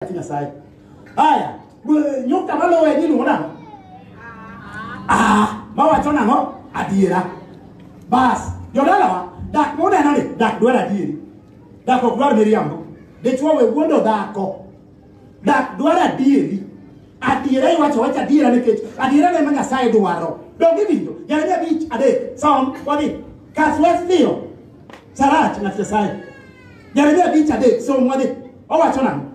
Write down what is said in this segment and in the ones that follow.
wach Nyasaye. Haya, we- nyukta maluwe ni luwo nang'o? Ah, mawacho nang'o? Adiera. Bas, jodalawa, dak muneno ni dak dwar adieri. Dak ok dwar miriambo. Dichwo we wuondo dhako. Dak dwar adieri. Adiera iwacho wacho adiera nikech adiera ne ma Nyasaye dwaro. Donge winjo? Jeremia abich adek. Som wadhi. Kas wes dhiyo. Sarach ng'at Nyasaye. Jeremia abich adek. Som wadhi. Owacho nang'o?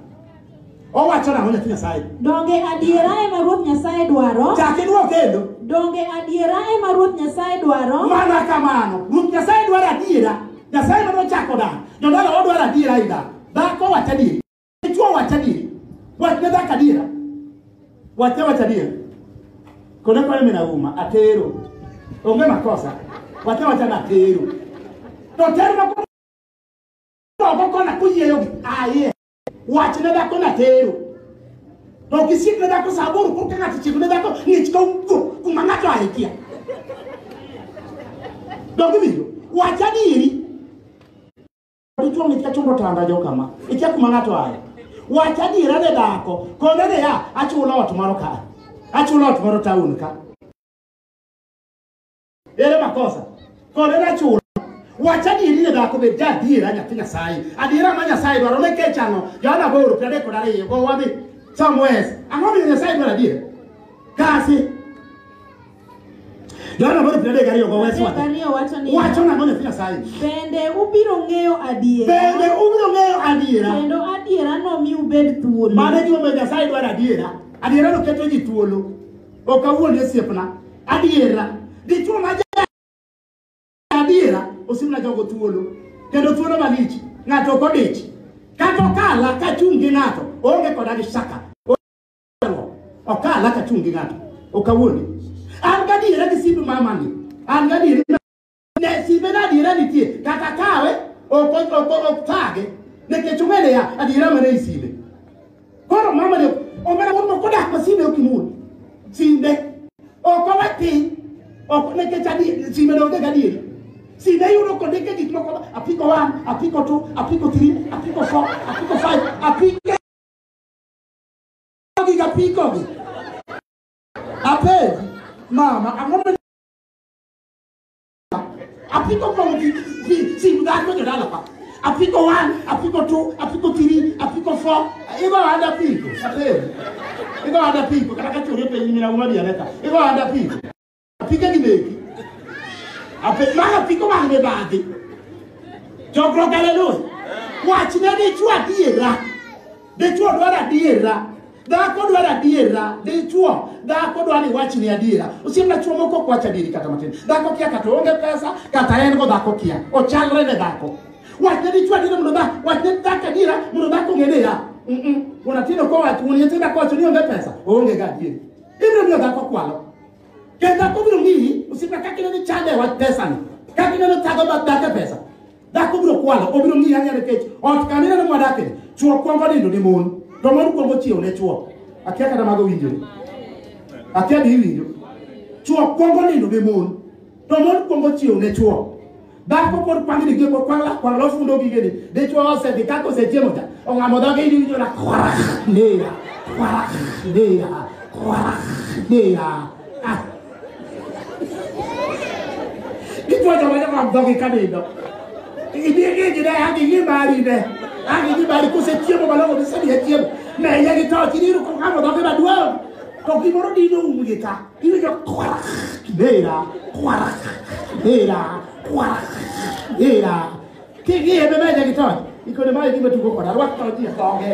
Owacho nang'o nyathi Nyasaye? Donge adiera ema Ruoth Nyasaye dwaro? Chak idwok kendo. Donge adiera ema Ruoth Nyasaye dwaro? Mana kamano. Ruoth Nyasaye dwaro adiera. Nyasaye ema nochako dak. Jodala odwaro adiera e dak. Dhako wacho adieri. Dichwo wacho adieri. Wach ne dhako adiera. Wach ne wacho adiera. Kone kone mina uma. Atero. Onge makosa. Wach ne wacho ni atero. To ter ma Toko kona kuyeyo aye. Wach ne dako na tero. To kisik ne dako saburu kurka ngati chik ne dako ngich ka ugo kuma ngato aikia. Dogi video. Wach adiri. Dichwo ngich ka chumbo tanda jo kama. Ikia kuma ngato aye. Wach adira ne dako. Kone ne ya achulo ot moro ka. Achulo ot moro taun ka. ere makosa kode nachulo wach adieri ne dhako bed ja adiera nyathi nyasaye adiera ma nyasaye dwaro ne kech ang'o johana boro piero adek kod ariyo go wadhi somewes ang'o miyo nyasaye dwaro adiera kasi johana boro piero adek ariyo go wes Adek wadhi ariyo wacho ni wacho nang'o nyathi nyasaye bende ubiro ng'eyo adiera bende ubiro ng'eyo adiera kendo adiera nomi ubed thuolo mane gimomiyo nyasaye dwaro adiera adiera noketo ji thuolo Ok awuondi osiepna. Adiera. Dichuo ma ja- adiera osimna jogo thuolo. Kendo thuolo malich. Ng'ato ok odich. Kata okala ka chung' gi ng'ato. Onge koda gi shaka. Okala ka chung' gi ng'ato. Ok awuondi. An gadiera gi simb mamani. An gadiera Nyasibe na adiera nitie kata kawe ok ok ok ok thage nikech ong'e niya adiera mana e sime. Koro mama ni omera wuon moko dak ma sime ok imul. Sime ok owe piny ok nikech adi sime no onge gadieri. Sime yudo kondike gik moko apiko one, apiko two, apiko three, apiko four, apiko five, apiko gi apiko gi. Apenji mama ang'o ma apiko kong fi fi si mudan ko jada la pa apiko one apiko two apiko three apiko four igo ada piko ate igo ada piko kata ka chori pe nyina uma dia neta igo ada piko apika ni neki ape ma apiko ma ne baadi jogro galelo wach ne ni chwa diera de chwa dwara diera Dhako dwaro adiera, dichwo, dhako dwaro ni wachni adiera. Osiemna chwo moko ok wach adieri kata matin. Dhako kia kata onge pesa, kata en go dhako kia. Ochalre ne dhako. Wachne dichwo adiera mondo dhako, wachne dhako adiera mondo dhako ong'e ni ya. Mm-mm. Unatindo kwa watu, unyetinda kwa watu ni onge pesa, onge ga adieri. Ibiro miyo dhako kwalo. Kendo dhako biro miyi, osiemna kaka ineno chande wach pesani. Kaka ineno thago mag dhako e pesa. Dhako biro kwalo, obiro ng'iyo ang'iya nikech ot kama ineno mwadakie, chwo kwongo nindo ne mon, to mon kwongo chiew ne chwo. Akia kata mago winjore. Akia be iwinjo. Chwo kwongo nindo ne mon, to mon kwongo chiew ne chwo. Dhako pod kwang' ni gimbo kwang' lak kwang' lofundo gigeni. Dichwo osedhi kaka osechiemo cha, ong'amo dhoge in iwinjo na kwarak, neya, kwarak, neya, kwarak, neya. Ah, Kichwa cha wanyama wa mdhogi kanindo. Ibie gigi ne hagi gi mari ne. Hagi gi mari kose chiemo malongo ni sani ya chiemo. Na iya gi tao chini iru kongamo dhogi maduong. To gimoro dino umu gi ka. Iwe jo kwara kibera. Kwara kibera. Kwara kibera. King'iye be meja gi tony. Ikone mae gima tugo koda. Rwak tony ji songe.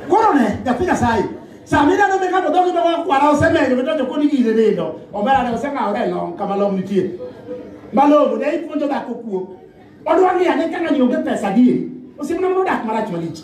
Koro ne, nyathi Nyasaye. Sama ineno mi ng'ato dhogi dhogo kwara osemenyo midonjo koni gire nindo. Omera ne oseng'awore e long kama long nitie. Malongo ne ipuonjo dhako kuo. Odwa ng'iyo ane ka ng'ani onge pesa adieri. Osiepna mondo odak marach malich.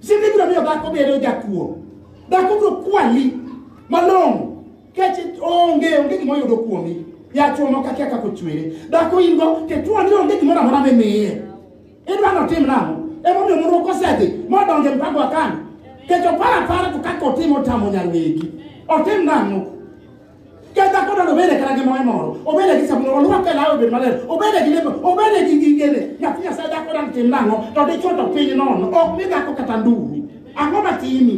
Sidi biro miyo dhako bedo jakuo. Dhako biro kwali malong'o kech onge onge gima oyudo kuomi. Yachuo moko akia kaka ochwere. Dhako in go to ituo ni onge gimoro amora mimiye. Idwa ni otim nang'o? Emomiyo moro kosedhi modonjo e mpango wa kani. Kech oparo apara to kaka otimo otamo nyar wegi. Otim nang'o? Kendo dhakono nobede kata gi moe moro, obede gi sabun, olwak e lawe obed maler, obede gi lepe, obede gi gigene. Nyathi Nyasaye dhako dang' tim nang'o, to dichwo to piny nono, ok mi dhako kata ndumi. Ang'o matimi?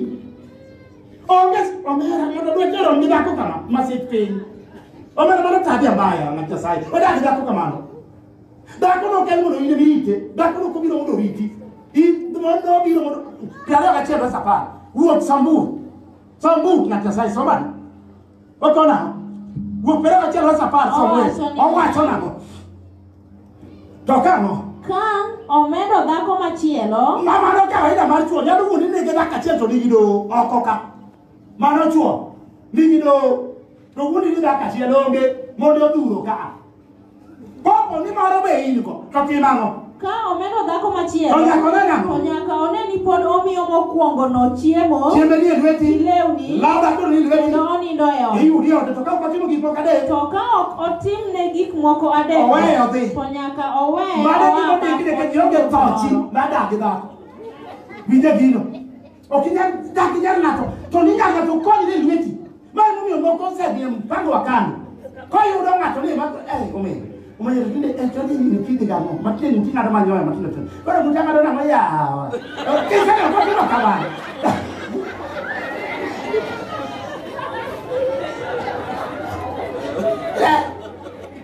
Onge omera mondo dwe joro mi dhako kama, masik piny. Omera mano tabia mbaya na Nyasaye, odagi dhako kamano. Dhako no kel mondo ine mite, dhako no kobiro mondo riti. I mondo biro mondo, piero ariyo gachiel verse apar, wuok samburu, Som buk ng'at Nyasaye som ane. Oko nang'o? Wuok Pereira achiel wes apar som Owacho wes. ni- Owacho nang'o? To kang'o? Ka omedo dhako machielo, Ma mano kawaida mar chuo nyalo wuondi ni gi dakika achiel to nigi doho oko ka. Mano chuo nigi doho to wuondi ni dakika achiel onge mondo odhuro ka. Kopo ni moro be in go, to tim ang'o? Ka omeno dhako machielo, To nyaka one nang'o? to nyaka one ni pod omiyo mokwongono chiemo, Chiembe ni e lweti, lewni, law dhako ni e lweti, kendo onindo e ot. iyudi e ode, to ka ok otimo gik moko adek, To ka ok otimne gik moko adek, Oweye odhi. to nyaka owe mano oa gima odikne ka kaka jionge tho chi, moro. nadagi dhako. Winje gino. Ok inyal dak inyal ng'ato to ni nyaka ng'ato kony ni lweti. Mano momiyo moko osedhi mpango wa kano. Koyudo ng'ato ni ma eh omedo. Omedo tinde eh to ni ni kidi gamo. Matin ni ting'ado manyoya matindo tindo. Koro muta ng'ado nang'o yawa. Ok inyal ng'ato timo kamano.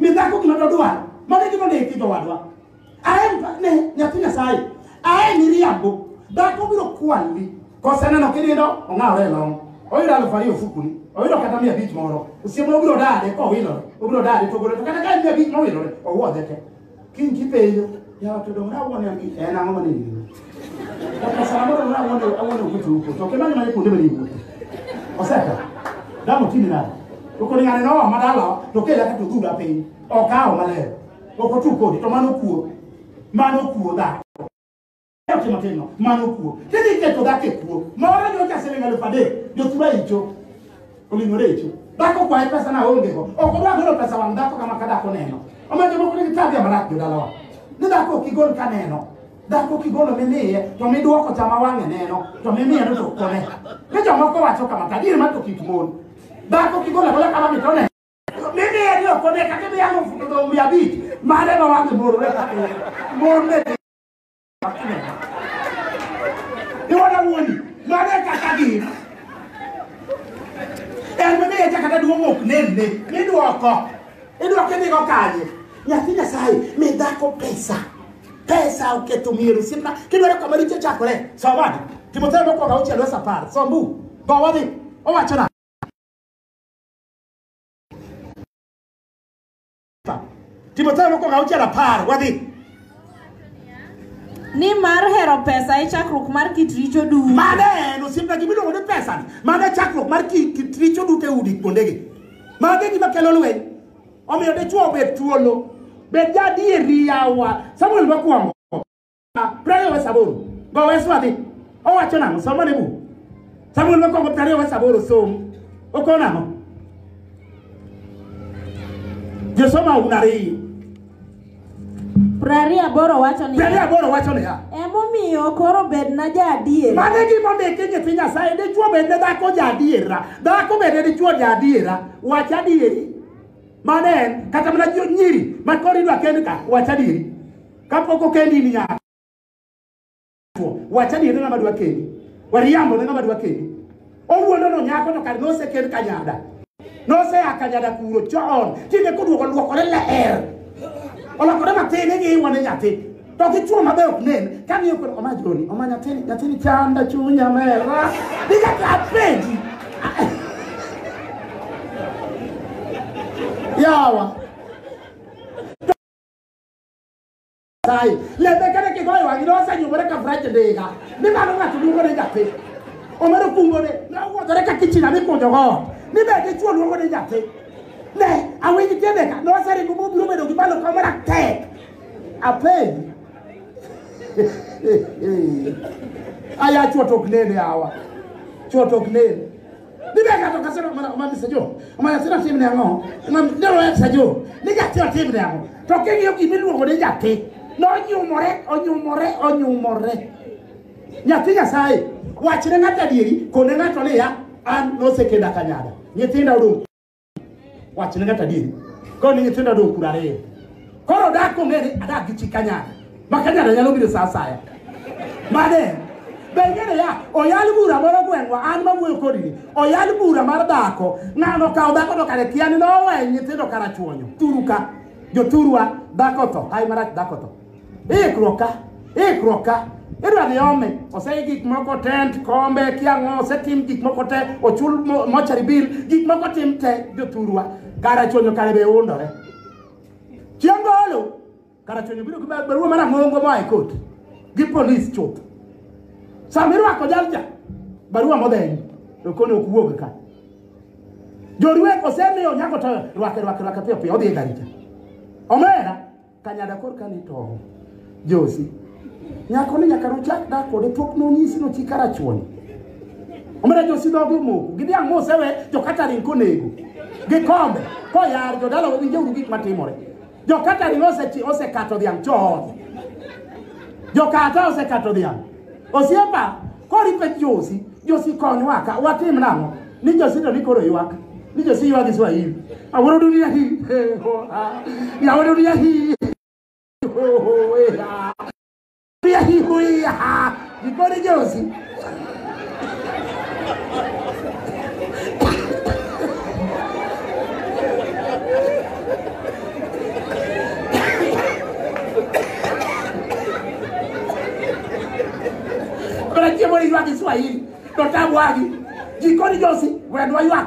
mi dhako gima dodwar mane gima ne ikijo wadwa aen ne nyathi nyasaye aen iriambo dhako biro kwali koseneno kinindo ong'awre long oyudo alufu ariyo ofukuni oyudo kata mia abich moro osiemo obiro dade kowilore obiro dade togore to kata ka en mia abich mowilore owuodhe te Kiny kipenjo, yawa to donge awuon en gi- en ang'o mane gino? Kaka sama moro donge awuon awuon ok utu uko, to kimanyo mane kuonde mane iwuothe. Oseka. Damo timi nade? To kod ng'ane noa madala to kela ka to dhura piny. Okawo maler. Ok otu kodi to mano kuo. Mano kuo dhako. Oche matin no, mano kuo. Kidhi keto dhako e kuo, moro nyocha siling alufu adek, jothura icho. Oling'ore icho. Dhako kwaye pesa na onge go. Ok odwa golo pesa wang' dhako kama ka dhako neno. Omiyo jomoko nigi tabia marach jodalawa. Ni dhako ok igol ka neno. Dhako kigolo mimiye to midwoko chama wang'e neno to mimiye no to kone. Ni jomoko wacho kama ta gir ma to kik mon. Dhako kigolo agola kama mi to neno. Mimiye ni ok one kata bi alufu to mia abich. Mare ma wang'e morore kata. Morne Iwona wuoni, mano e kaka gin. En mane echa kata duong' ok nenne, midwoko. Idwoko idhigo kanye? Nyathi Nyasaye, mi dhako pesa. Pesa oketho mier osiepna. Kidwaro kama richo chakore, som adi. Timotheo mokwongo auchiel wes apar, som bu. Go wadhi. Owacho nang'o? Timotheo mokwongo auchiel apar wadhi. Ni mar hero pesa e chakruok mar kit richo duto. Mane en osiepna gima iluongo ni pesa ni. Mane chakruok mar kit richo duto e udi kuondegi. Mage gima kelo lweny. Omiyo dichwo obed thuolo. Bed ja adieri yawa. Samuel mokwongo. Prariyo wa saboro. Go wesu adhi. Owacho nang'o? Somo ne buk. Samuel mokwongo prariyo wa saboro som. Okon ang'o? Josoma un ariyo. Prariyo aboro wacho ni Prariyo aboro wacho niya. emomiyo koro bedna jaadier. Mano e gima ondiki e nyithi Nyasaye. Dichwo bed ne dhako ja adiera. Dhako bed ne dichwo ja adiera. Wach adieri. Mano en. Kata mana jo- nyiri. Ma koro idwa kend ka. Wach adieri. kapok okendi in nyako wacha ni en ng'ama dwa kendi wariambo ne ng'ama dwa kendi owuondo no nyako to kar nosekend kanyada nosea kanyada kuro chon tinde koduogo luokore leer olokore matin ing'i iwane nyathi to gichuo mabe ok nen kamiyo koro oma joni oma nyathini nyathini chanda chunya mera nikata apenji yawa Nyasaye. Lembekane kigoyo wang'i ne osenyumore ka frach ndiga. Ni mano ng'ato luongo ni nyathi. Omero kungo ne ne owuodhore ka kichina mikunjo go. Ni be dichwo luongo ni nyathi. Ne awinj tiende ka ne oseringo mobiro bedo gi malo ka mara tek. Apenj. Aya chwo to ok nene awa. Chwo to ok nene. Ni be ng'ato ka sero mana mana sajo. Mana sero tim ne ango. Mana ndero ya sajo. Ni ja tio tim ne ango. To ke ngiyo gimi luongo ni nyathi. No nyumore, onyumore, onyumore. Nyathi Nyasaye wachne ng'ato adieri kone ng'ato niya an nosekenda kanyada. Nyithinda odong' wachne kata adieri koro ni nyithindo dong kura ariyo koro dak ong'e ni adak gi chi kanyada ma kanyada nyalo biro sa asaya mane be ing'eyo ya oyal bura moro gweng'wa an mawuoyo kodi ni oyal bura mar dhako ng'ano kawo dhako to kare kia ni nowe nyithindo kara chuonyo turu ka joturwa dhako tho hai marach dhako tho ikruoka ikruoka idwa dhi ome osei gik moko tent kombe kiang'o osetim gik moko te ochul mo- mochari bill gik moko tim te jothurwa kara chonyo kare be undore chieng' golo kara chonyo biro gi ba- barua mar ang'ongo moa e kot gi polis chuth sama irwako jalcha barua modhenyi to koni ok wuog ka jorwek osemiyo nyako to rwake rwake rwake piyo piyo odhi e gari cha omera Kanyada korka ne tong'. Josi. Nyako ni nyaka nochak dak kode pok nonyisi nochi karachuon. Omera Josi dhoge omoko. Gidhi ang'o osewe jokataring konego. Gikombe. Koyar jodala winjo uru gik matimore. Jokataring osekato dhiang' chon. Jokata osekato dhiang'. Osiepa, kori pek Josi, Josi konywa ka, watim nang'o? Ni Josi to ni koro ywak. Ni Josi ywak gi Swahili. Awuoro dunia hii. eh, oh, ah. Ya awuoro dunia hii. Oh, oh, eh, ah. Dunia hii, hui, ah. Gikone Josi. Bwana chiemo ywak Kiswahili to tabwagi jikoni josi wendwa ywak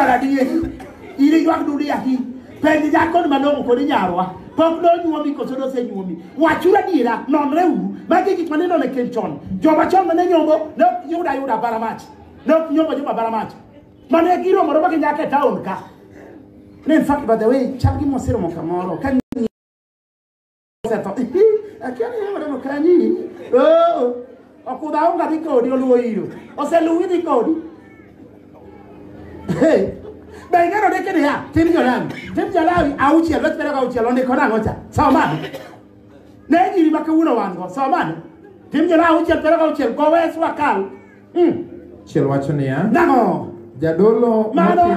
Maradiek, in iywak dudi ahi. Penj nyakoni malong'o kodi nyarwa. Pok nonyuomi koso nosenyuomi. Wachuru adiera, nonre uru. Magi gik mane none ken chon. Joma chon mane nyombo, ne ok yuda yuda bara mach. Ne ok nyombo joma bara mach. Mane giromore ma ginyaka e taon ka. Ne in fact by the way, chal gi moseromo kamoro. Ka osetho akia ni yore no kanyi oh okudha onga dhi kodi oluwo iro oseluwi dhi kodi Hey, be ing'eyo ni kini ya tim jolawi tim jolawi auchiel wach bere auchiel ondiko nang'o cha somane ne nyiri ma kawuono wan go somane tim jolawi auchiel bere auchiel go wes wakal mm. Chiel wacho niya, nang'o jadolo mano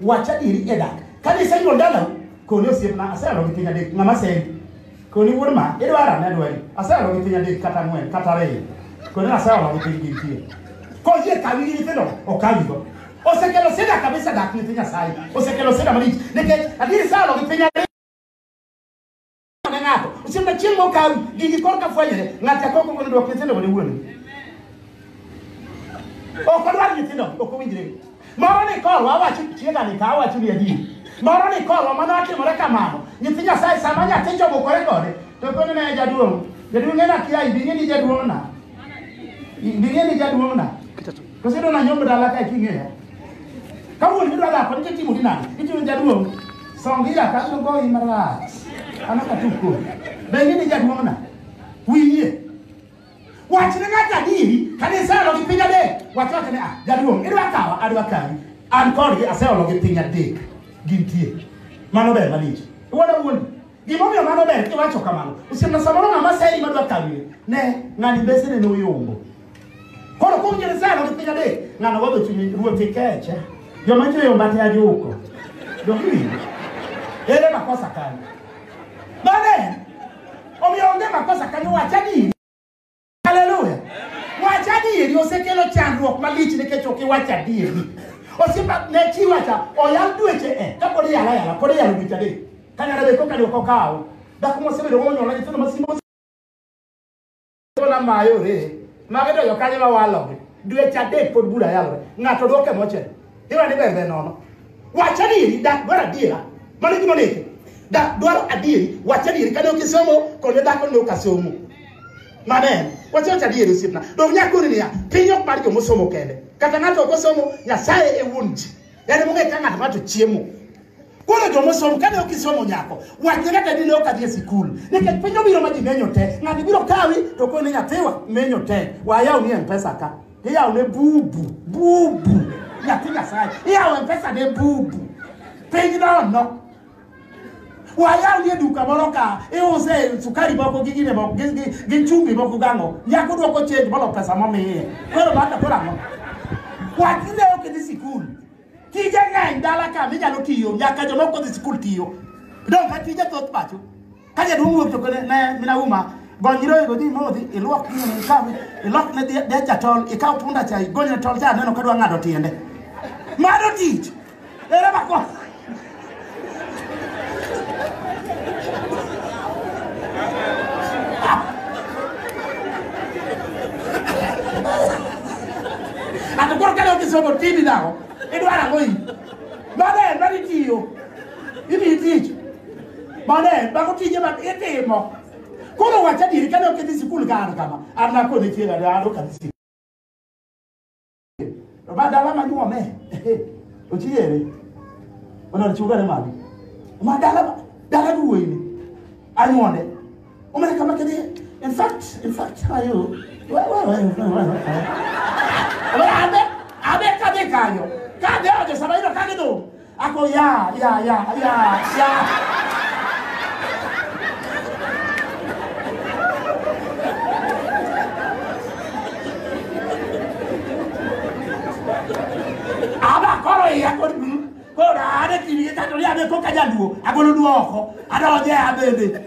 wach adieri e dak kane isenyuol dalau koni osiepna aseyalo gi piny adek ng'ama sendi koni wuod ma idwara ne dwari aseyalo gi piny adek kata ang'wen kata ariyo koni aseyalo gi piny gintie koyie kawi gi nyithindo okawigo osekelo sida kabisa dak nyithi nyasaye osekelo sida malich nikech adieri sayalo gi piny ariyo ne ng'ato osiemna chieng' mokawi gigi kor ka fwenyore ng'ato akoko gono dwok nyithindo ne wuon ok odwar nyithindo ok owinjre moro ni korwa awacho tiegani ka awacho ni adier moro ni korwa mano atimore kamano nyithi nyasaye sama nyathi chobukore kode to koni ne jaduong' jaduong' en akia ibing'e ni jaduong'na ibing'e ni jaduong'na Kita tu. Kose dona nyombo dala ka king'eya. Kawuono midwa dak kod jatimo gi nani? Itimo jaduong'. Song ila ka abiro goyi marach. An ok atuk kodi. Be ing'e ni jaduong'na? Wiye. Wachne ng'ato adieri kane iseolo gi piny adek. Wach wachne ah jaduong' idwa kawa adwa kawi. An kodgi aseolo gi piny adek. Gintie. Mano ber malich. Iwuoda wuondi. Gimomiyo mano ber kiwacho kamano. Osiemna samoro ng'ama seri madwa kawire. Ne ng'ani besene ne oyombo. Koro kuom Ngeresano gi piny adek, ng'ano wadho chunye ruoth ikeche. Joma chwe yomba te ajuko. Dokiwinjo. Ere makosa kanyo. Bane, omiyo onge makosa kanyo wacha ni Haleluya. Wach adieri osekelo chandruok malich nikech ok iwach adieri. Osiepa ne chi wacha oyal dweche e ka pod iyala yala pod iyalo dweche adek. Kanyara be koka dwoko kawo. Dhako mosebedo monyuol na nyithindo masimbo na mayore. Mage to jokanyo ma walogi. Dweche adek pod bura yalore. Ng'ato dwoke mochel. Iwa ni bembe nono. Wacha diri dak dwara dira. Mano gima neke. Dak dwara adiri. Wacha diri kane okisomo kone dak onyo kasomo. Manen. Wacha wacha diri sipna. Dok nyakuri niya. Pinyo kumari jomo somo kende. Kata nato okosomo nyasaye e wunji. Yani munge kanga tumato chiemo. Koro jomo somo kane okisomo nyako. Wacha kata dine okadhie sikul. Neke pinyo biro maji menyo te. Ngani biro kawi to kone nyathiwa menyo te. Wayao ni mpesa ka. Iya ne bubu, bubu. Ya ti gasai. Iya we pesa ne bubu. Peji na no. Wa ya ni du ka bolo ka. E o se sukari boko gigi ne boko gigi gigi chumbi boko gango. Ya ko do ko change bolo pesa mo me. Ko lo ba ka ko rango. Wa ti ne o ke di sikul. Ti je ngai dala ka mi ja lo tiyo. Ya ka jo mo ko di sikul tiyo. Don ka ti je tot pacho. ka jaduong' wuok to kone ne mina uma gony nyiroye go dhi modhi ilwok nyine ikaw ilok ne dhi- dech jatol ikaw punda cha igony ne tol cha aneno ka dwa ng'ado tiende mano tich ere mako ato koro kane okisomo tini nang'o idwaro ang'o i mano en mani tiyo imiyi tich Mano en bako tije ma itimo. Koro wacha diri kane ok idhi sikul ka an kama. An nakone chieng' ade an ok adhi sikul. To ma dala ma nyuome. Ochiere. Onar chugane malo. Ma dala dala duwe ni. Anyuonde. Omana kama kedi. In fact, in fact, how are you? Well, well, well, well, well, well. Abe, abe kade kanyo. Kade ojo sabairo kade do. Ako ya ya ya ya ya. Aba koro ya kod koro ade kiri ka to ya be ko ka jaduo agolo duoko adonje abende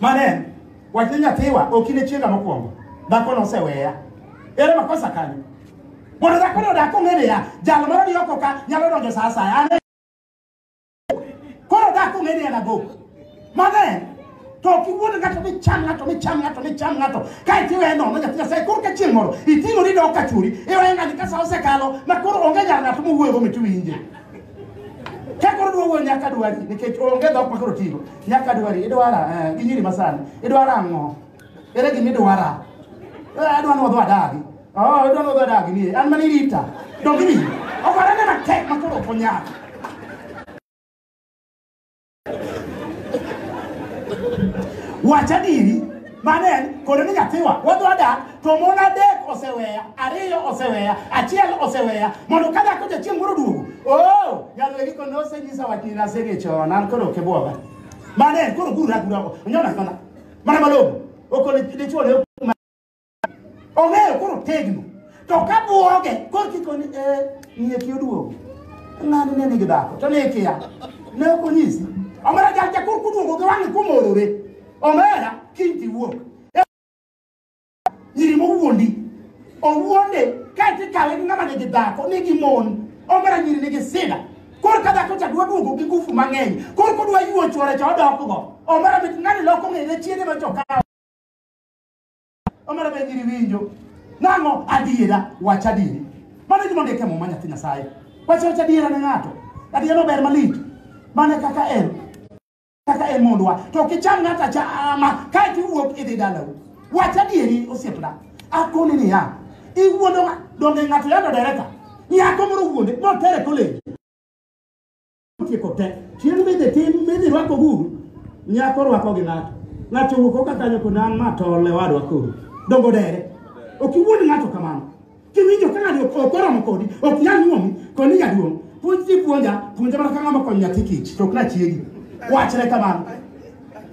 Mano en wach ni nyathiwa ok in e chiega mokwongo. Dhako noseweya. Ere makosa kanyo? Mondo dhako no dak ong'e niya, jal moro ni oko ka nyalo donjo sa asaya. An e- Koro dak ong'e ni en abok. Mano en to ok iwuond ng'ato micham ng'ato micham ng'ato micham ng'ato kae to iweye nono nyathi nyasaye koro ka chieng' moro iting'ori dok ka churi iweye ng'ani ka sa osekalo ma koro onge nyar ng'ato mowuoyogo mit winje Ka koro duogo nyaka dwari nikech onge dhok ma koro tigo. Nyaka dwari idwara eh, gi nyiri masani. Idwara ang'o? Ere gima idwara? Eh, Adwa ni wadho adagi. Oh, idwa ni wadho adagi ni. An mani rita. Donge ni. Ogore ne matek ma koro ok onyal. wach adiri mano en koro ni nyathiwa wadwa dak to mon adek oseweya ariyo oseweya achiel oseweya mondo ka dhako jachieng' moro duogo o nyalwegi ko nosenyisa wach ni nasege chon an koro ok ibwoga mano en koro guragurago onyona nyona mana malong'o okone dichuo ne ong'eyo koro tegno to ka buoge koro kikoni e eh, ng'e ki oduogo ng'ani ne nigi dhako to ne kia ne ok onyisi omera jacha koro kuduogo gi wang'e kumorore omera kiny tiwuok nyiri mowuondi owuonde kaeto ikawe gi ng'ama nigi dhako nigi mon omera nyiri nigi sida koro ka dhako cha dwa duogo gi ngufu mang'eny koro kodwa yuo chwore cha odokgo omera mit ng'ani loko ng'ene chiende ma chokawo omera be giri winjo nang'o adiera wach adieri mano gima ondiek e muma nyathi nyasaye wach wach adiera ne ng'ato adiera ober malich mane kaka en kaka en mondwa to ok icham ng'ato achama kae to iwuok idhi dalau wach adieri osiepna akoni niya iwuondo ng'a- donge ng'ato yando dereka nyako moro wuonde motere koleji Tieko te. Chieng' midhi tim midhi rwako guru, nyako rwako gi ng'ato. Ng'ato wuok oka kanyo kod an ma tol e wadwa koro. Dongo dere. Ok iwuond ng'ato kamano. Kiwinjo ka ng'ani ok ok oromo kodi, ok nyal nyuomi, koni jaduong'. Puonj ti puonja, puonja mana ka ng'ama konyo nyathi kich, to ok na chiegi. Wachre kamano.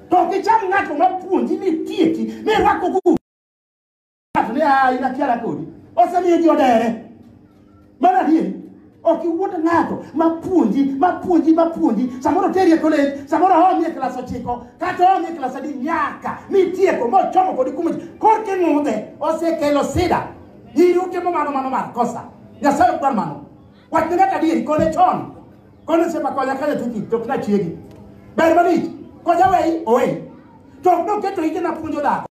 To ok icham ng'ato ma puonji ni tieki, mi rwako guru. Ng'ato ni a in achiara kodi. Osemiyo ji odere. Mano adier. Ok iwuond ng'ato ma puonji, ma puonji, ma puonji. Samoro teri e kolej, samoro omi e klas ochiko, kata omi e klas adi nyaka mitieko mochomo kodi kumo ji. Korka ing'udhe, osekelo sida. Nyiri utimo mano mano mar kosa. Nyasaye ok dwar mano. Wach ne ng'ato adieri, kone chon. Kone sepa konya kanya tiki, to ok nachiegi. Ber malich. Koja wei, owei. To ok noketo ite napuonjo dhako.